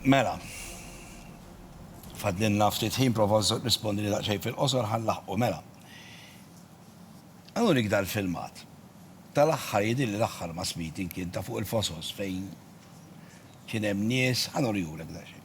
Mela, fadlinna ftit ħin prova rispondi li daqsxejn fil-qosor ħan laħqu mela. Għanu nikda l-filmat. Tal-aħħar jidil li l-aħħar ma smiti kien ta' fuq il-fosos fejn kien hemm nies ħanu rihulek daqsxejn.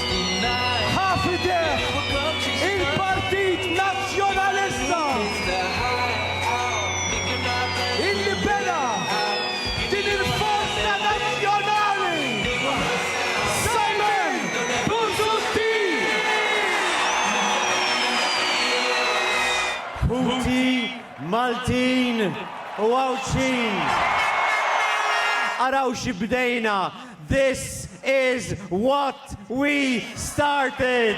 ħa f'idejh il-Partit Nazzjonalista illi bena din il-forza nazzjonali Simon Busuttil! Ħuti Maltin u Għawdxin! Araw xi bdejna! This is what we started!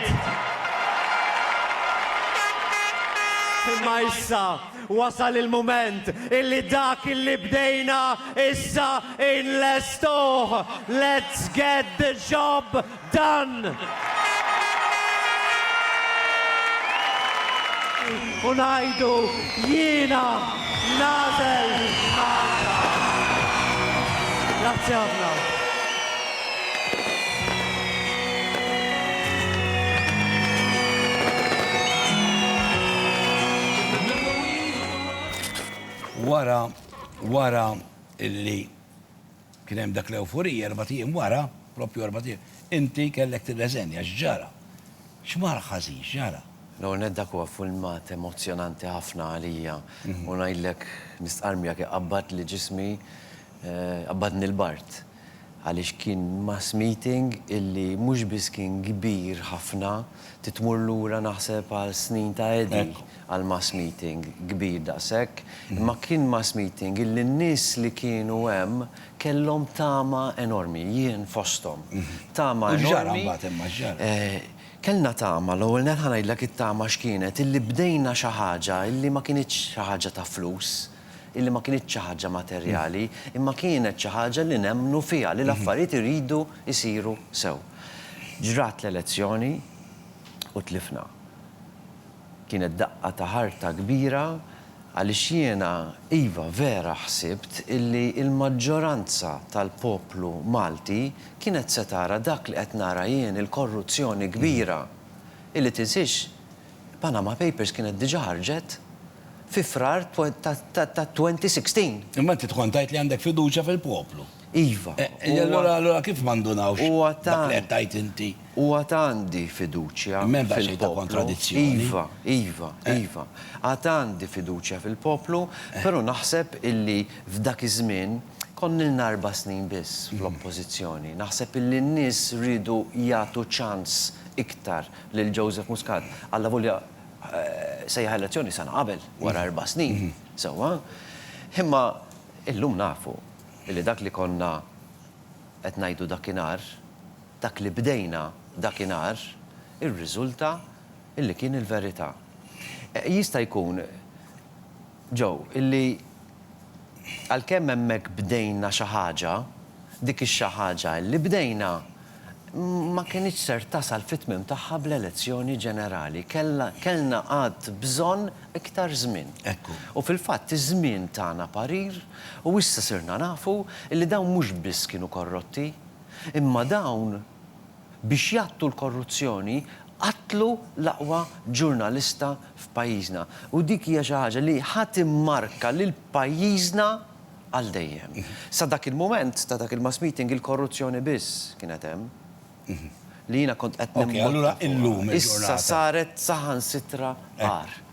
Imma issa wasal il-mument illi dak illi bdejna issa inlestuh! Let's get the job dan u ngħidu jiena nagħżel Malta. Grazzi ħafna. Wara, wara illi Kien hemm dak l-ewforija, erbat ijiem wara, proprju erbat ijiem, inti kellek tirreżenja. X'ġara? X'mar ħażin? X'ġara? L-ewwel nett dak huwa filmat emozzjonanti ħafna għalija u ngħidlek nistqarr miegħek iqabbadli ġismi, qabbadni l-bard. Għaliex kien mass meeting illi mhux biss kien kbir ħafna, Trid tmur lura naħseb għal snin ta' Eddie għal mass meeting kbir daqshekk. Imma kien mass meeting illi n-nies li kienu hemm kellhom tama enormi, jien fosthom. Tama enormi. U x'ġara mbagħad imma, x'ġara? Kellna tama, l-ewwel nett ħa ngħidlek it-tama x'kienet, illi bdejna xi ħaġa illi ma kinitx xi ħaġa ta' flus. illi ma kinitx xi ħaġa materjali, imma kienet xi ħaġa li nemmnu fiha, li l-affarijiet iridu jsiru sew. Ġrat l-elezzjoni u tlifna. Kienet daqqa ta' ħarta kbira għaliex jiena, iva, vera ħsibt illi l-maġġoranza tal-poplu Malti kienet se tara dak li qed nara jien, il-korruzzjoni kbira, illi tinsiex Panama Papers kienet diġà ħarġet fi Frar tat-2016. Imma inti tkun tgħid li għandek fiduċja fil-poplu. Iva. Allura kif ma ndunawx dak li qed tgħid inti? Huwa ta' għandi fiduċja fil-poplu. M'hemm daqsxejn ta' kontradizzjoni. Iva, iva, iva. Għad għandi fiduċja fil-poplu, però naħseb illi f'dak iż-żmien konna ilna erba' snin biss fl-Oppożizzjoni. Naħseb illi n-nies riedu jagħtu ċans iktar lil Joseph Muscat, allavolja sejjaħ elezzjoni sena qabel, wara erba' snin, sewwa, imma illum nafu li dak li konna qed ngħidu dakinhar, dak li bdejna dakinhar, irriżulta li kien il-verità. Jista' jkun, Joe, illi għalkemm hemmhekk bdejna xi ħaġa, dik ix-xi ħaġa illi bdejna ma kinitx ser tasal fit-tmiem tagħha bl-elezzjoni ġenerali. Kellha, kellna għad bżonn iktar żmien. Ekku. U fil-fatt iż-żmien tana parir u issa sirna nafu illi dawn mhux biss kienu korrotti, imma dawn Biex jgħattu l-korruzzjoni qatlu l-aqwa ġurnalista f'pajjiżna u dik hija xi ħaġa li ħa timmarka lil pajjiżna għal dejjem. Sa dak il-mument ta' dak il-mass meeting il-korruzzjoni biss kienet hemm li jiena kont qed nimbotta fuqha. Issa saret saħansitra agħar.